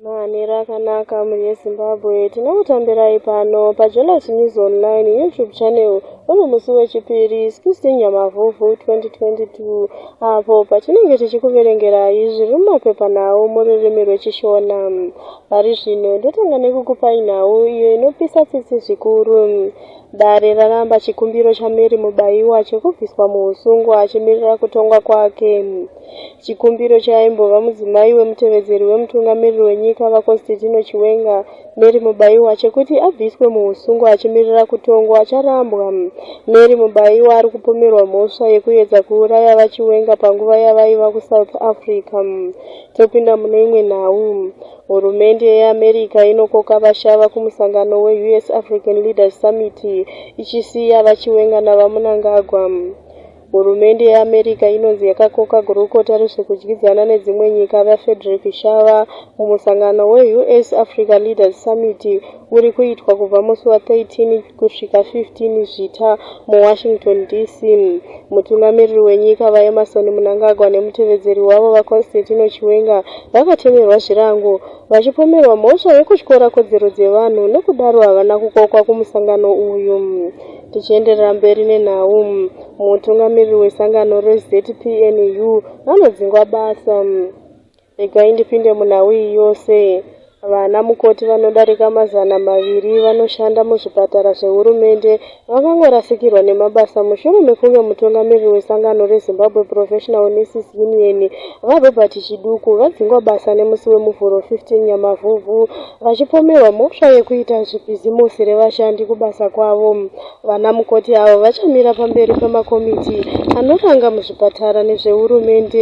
Manhero akanaka muneZimbabwe, tinokutambirai pano paJolas News Online YouTube channel uri musi weChipiri 16 Nyamavhuvhu 2022 apo patinenge tichikuverengerai zviri mumapepa nhau mururimi rweChishona. Pari zvino ndotanga nekukupai nhau iyo inopisa tsitsi zvikuru. Dare raramba chikumbiro chaMary Mubaiwa chekubviswa muhusungwa achimirira kutongwa kwake. Chikumbiro cheaimbova mudzimai wemutevedzeri wemutungamiriri wenyika, VaConstantino Chiwenga, Mary Mubaiwa, chekuti abviswe muhusungwa achimirira kutongwa charambwa. Mary Mubaiwa ari kupomerwa mhosva yekuedza kuuraya VaChiwenga panguva yavaiva kuSouth Africa. Topinda mune imwe nhau. Hurumende yeAmerica inokoka vashava kumusangano weUS African Leaders Summit ichisiya VaChiwenga naVaMunangagwa. Hurumende yeAmerica inonzi yakakoka gurukota rezvekudyidzana nedzimwe nyika VaFrederick Shava kumusangano weUS Africa Leaders Summit huri kuitwa kubva musi wa 13 kusvika 15 Zvita muWashington DC. Mutungamiriri wenyika VaEmmerson Mnangagwa nemutevedzeri wavo VaConstantino Chiwenga vakatemerwa zvirango vachipomerwa mhosva yekutyora kodzero dzevanhu nokudaro havana kukokwa kumusangano uyu. Tichienderera mberi nenhau, mutungamiriri wesangano reZPNU anodzingwa basa. Regai ndipinde munhau iyi yose. Vana mukoti vanodarika mazana maviri vanoshanda muzvipatara zvehurumende vakangorasikirwa nemabasa mushure mekunge mutungamiriri wesangano reZimbabwe Professional Nurses Union, VaRobert Chiduku, vadzingwa basa nemusi weMuvhuro 15 Nyamavhuvhu vachipomerwa mhosva yekuita zvibhizimusi revashandi kubasa kwavo. Vana mukoti avo vachamira pamberi pemakomiti anoranga muzvipatara nezvehurumende.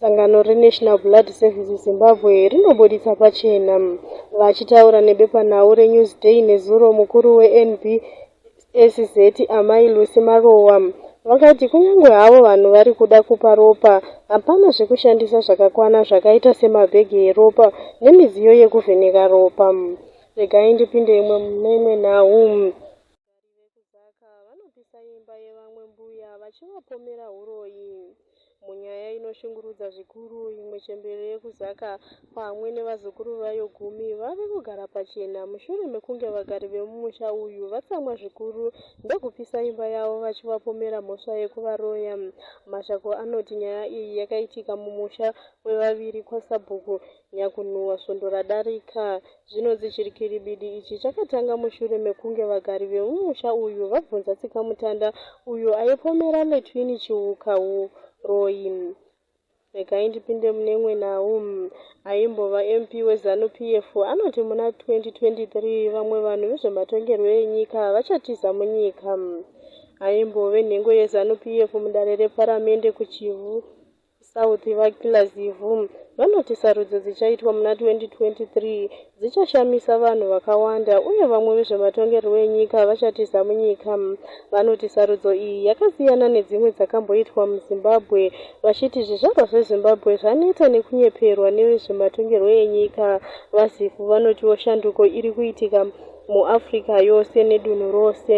Sangano reNational Blood Services Zimbabwe rinobuditsa pachena. Vachitaura nebepanhau reNewsday nezuro mukuru weNBSZ Amai Lucy Marowa vakati kunyange havo vanhu vari kuda kupa ropa, hapana zvekushandisa zvakakwana zvakaita semabhegi eropa nemidziyo yekuvheneka ropa. Regai ndipinde imwe mune imwe nhau. Vagari vekuZaka vanopisa imba yevamwe mbuya vachivapomera huroyi munyaya inoshungurudza zvikuru. Imwe chembere yekuZaka pamwe nevazukuru vayo gumi vave kugara pachena mushure mekunge vagari vemumusha uyu vatsamwa zvikuru ndokupisa imba yavo vachivapomera mhosva yekuvaroya. Mashoko anoti nyaya iyi yakaitika mumusha wevaviri kwaSabhuku Nyakunhuhwa svondo radarika zvinonzi chirikiribidi ichi chakatanga mushure mekunge vagari vemumusha uyu vabvunza Tsikamutanda uyo aipomera Letwin Chiuka huroyi. Regai ndipinde mune Mwenawu, aimbova MP weZanu PF, anoti muna 2023 vamwe vanhu vezvematongerwo enyika vachatiza munyika. Aimbove nhengo yeZanu PF mudare reparamende kuChivhu, South, VaKiller Zivu, vanoti sarudzo dzichaitwa muna 2023 dzichashamisa vanhu vakawanda uye vamwe vezvematongerwo enyika vachatiza munyika. Vanoti sarudzo iyi yakasiyana nedzimwe dzakamboitwa muZimbabwe vachiti zvizvarwa zveZimbabwe zvaneta nekunyeperwa nevezvematongerwo enyika. VaZivu vanotiwo shanduko iri kuitika muAfrica yose nedunhu rose.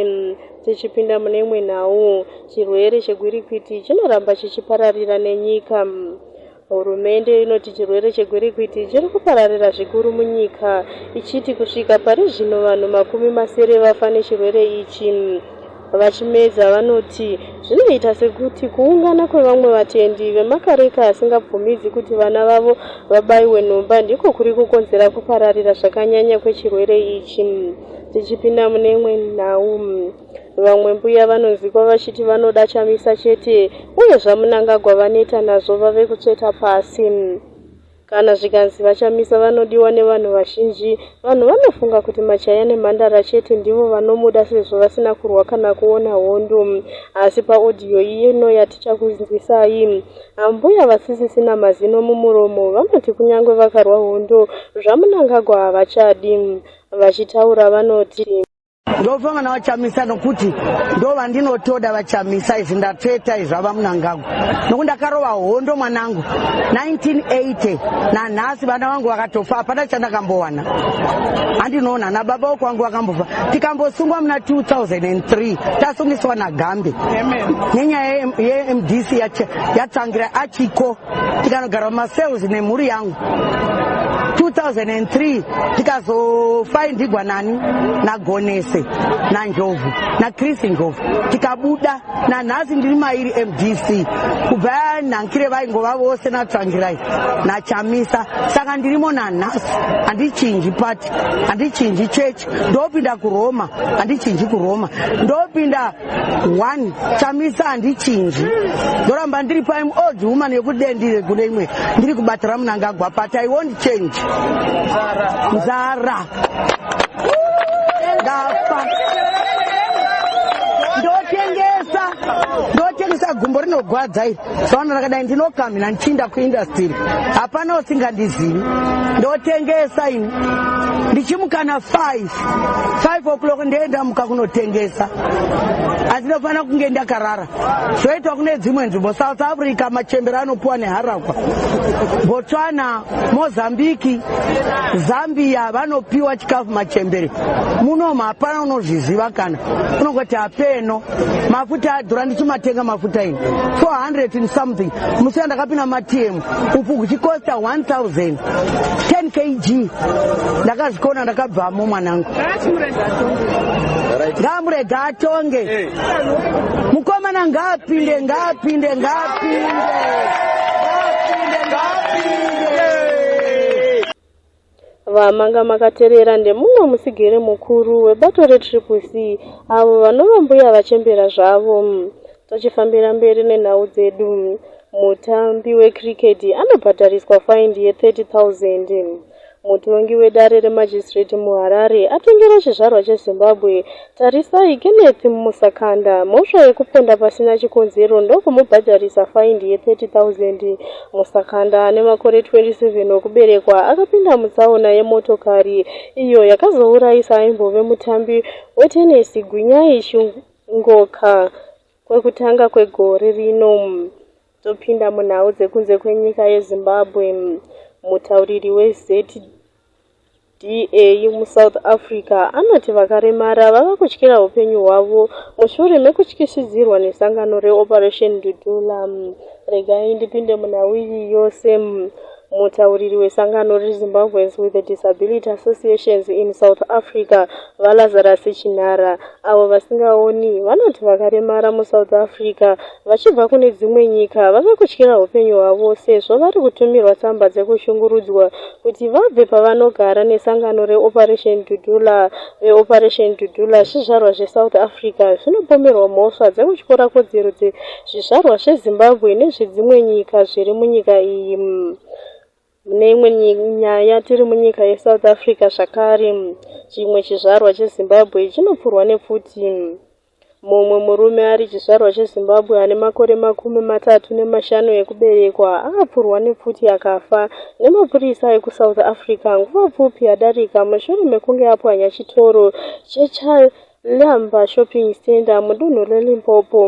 Tichipinda mune imwe nhau, chirwere chegwirikwiti chinoramba chichipararira nenyika. Hurumende inoti chirwere chegwirikwiti chiri kupararira zvikuru munyika, ichiti kusvika pari zvino vanhu makumi masere vafa nechirwere ichi. VaChimedza vanoti zvinoita sekuti kuungana kwevamwe vatendi vemakareka asingabvumidzi kuti vana vavo vabaiwe nhomba ndiko kuri kukonzera kupararira zvakanyanya kwechirwere ichi. Tichipinda mune imwe nhau, vamwe mbuya vanonzikwa vachiti vanoda chamisa chete uye zvaMunangagwa vaneta nazvo vave kutsveta pasi. Kana zvikanzi VaChamisa vanodiwa nevanhu vazhinji, vanhu vanofunga kuti machaya nemhandara chete ndivo vanomuda sezvo vasina kurwa kana kuona hondo. Asi paodhiyo ino yatichakunzwisai, ambuya vasisisina mazino mumuromo vanoti kunyange vakarwa hondo, zvaMnangagwa havachadi. Vachitaura vanoti. Ndofamba navachamisa nokuti ndovandinotoda vachamisa izvi ndatsveta izvi vava munangagwa nokuti ndakarova hondo mwanangu 1980 nanhasi vana vangu vakatofa hapana chandakambowana handinoona nababa woko vangu vakambofa tikambosungwa muna 2003 tasungiswa nagambe nenyaya yemdc yatsangira achiko tikanogara mumacells nemhuri yangu 2003 tikazofaindigwa nani nagonese nanjovhu nachris njovhu tikabuda nanhasi ndiri mairi mdc kubva nhankire vaingova vose natrangirai nachamisa saka ndirimo nanhasi handichinji pati handichinji chechi ndopinda kuroma handichinji kuroma ndopinda one chamisa handichinji ndoramba ndiri paim old woman yekuti dee ndiri kune imwe ndiri kubatira munangagwa but i won't change nzara ndafa ndotengesa ndotengesa gumbo rinogwadza iri saona rakadai ndinokamhina ndichinda kuindastiri hapana usingandizivi ndotengesa ini ndichimukana five 5 o'clock ndee ndamuka kunotengesa asi ndofanira kunge ndakarara zvoitwa kune dzimwe nzvimbo south africa machembere anopiwa neharakwa botswana mozambiki zambia vanopiwa chikafu machembere munomu hapana unozviziva kana unongoti hapeno mafuta adhura ndichimatenga mafuta ini 400 something musi yandakapinda matm upfu huchikosta 1000 10 kg ndakazvikona ndakabvamo mwanangu ngaamurega atonge mukomana ngaapinde ngaapinde ngaapinde ngaapinde ngaapinde Vamanga makaterera ndemumwe musigiri mukuru webato reTriple C avo vanova mbuya vachembera zvavo. Tochifambira mberi nenhau dzedu. Mutambi wecricket anobhadhariswa faindi ye 30,000. Mutongi wedare remagistrate muHarare atongera chizvarwa cheZimbabwe Tarisai Kenneth Musakanda mhosva yekuponda pasina chikonzero ndokumubhadharisa faindi ye 30,000. Musakanda ane makore 27 okuberekwa akapinda mutsaona yemotokari iyo yakazourayisa aimbove mutambi wetenesi Gwinyai Chungoka kwekutanga kwegore rino. Topinda munhau dzekunze kwenyika yeZimbabwe. Mutauriri weZED DA muSouth Africa anoti vakaremara vava kutyira hupenyu hwavo mushure mekutyisidzirwa nesangano reOperation Dudula. Regai ndipinde munhau iyi yose. Mutauriri wesangano reZimbabweans with Disability Associations in South Africa, VaLazarus Chinhara, avo vasingaoni, vanoti vakaremara muSouth Africa vachibva kune dzimwe nyika vave kutyira hupenyu hwavo sezvo vari kutumirwa tsamba dzekushungurudzwa kuti vabve pavanogara nesangano reOperation Dudula. VeOperation Dudula, zvizvarwa zveSouth Africa zvinopomerwa mhosva dzekutyora kodzero dzezvizvarwa zveZimbabwe nezvedzimwe nyika zviri munyika iyi. Mune imwe nyaya, tiri munyika yeSouth Africa zvakare, chimwe chizvarwa cheZimbabwe chinopfurwa nepfuti. Mumwe murume ari chizvarwa cheZimbabwe ane makore makumi matatu nemashanu ekuberekwa akapfurwa nepfuti akafa nemapurisa ekuSouth Africa nguva pfupi yadarika mushure mekunge apwanya chitoro cheCharles Lamba Shopping Centre mudunhu reLimpopo,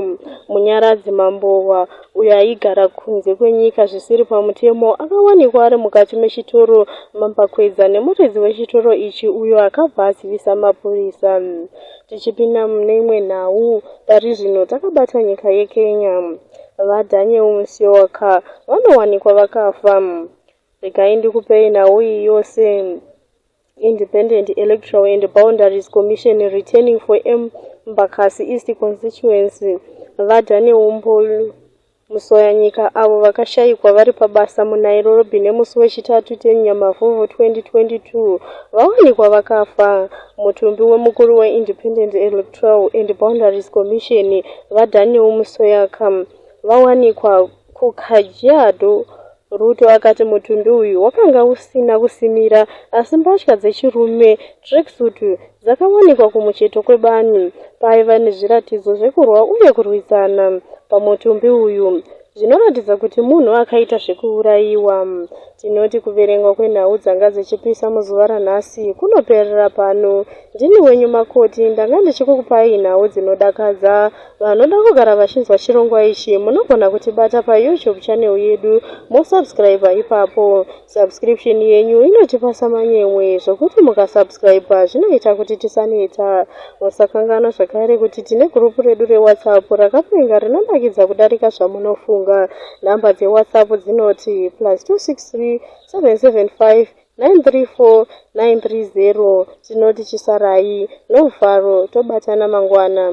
Munyaradzi Mambohwa, uyo aigara kunze kwenyika zvisiri pamutemo, akawanikwa ari mukati mechitoro mambakwedza nemuridzi wechitoro ichi uyo akabva azivisa mapurisa. Tichipinda mune imwe nhau, pari zvino takabata nyika yeKenya. VaDaniel Musyoka vanowanikwa vakafa. Regai ndikupei nhau iyi yose. Independent Electoral and Boundaries Commission returning for Embakasi East constituency, VaDane Umbulu Musoyanyika, avo vakashayikwa vari pabasa muNairobi nemusi weChitatu 10 Nyamavhuvhu 2022, vawanikwa vakafa. Mutumbi wemukuru weIndependent Electoral and Boundaries Commission, VaDaniel Musoyaka, vawanikwa KuKajiado, Ruto akati mutumbi uyu wakanga usina kusimira asi mbatya dzechirume, tracksuit, dzakawanikwa kumucheto kwebani paiva nezviratidzo zvekurwa uye kurwisana pamutumbi uyu zvinoratidza kuti munhu akaita zvekuurayiwa. Tinoti kuverengwa kwenhau dzanga dzichipisa muzuva ranhasi kunoperera pano. Ndini wenyu Makoti, ndanga ndichikukupai nhau dzinodakadza. Vanoda kugara vachinzwa chirongwa ichi munogona kutibata paYouTube channel yedu mosubscriber ipapo. Subscription yenyu inotipa samanyemwe zvokuti mukasubscriber zvinoita kuti tisaneta. Musakanganwa zvakare kuti tine group redu reWhatsApp rakapenga rinonakidza kudarika zvamunofunga. Number dzeWhatsApp dzinoti plus 263 775 934 930 tinoti chisarai. Love Faro tobatana mangwana.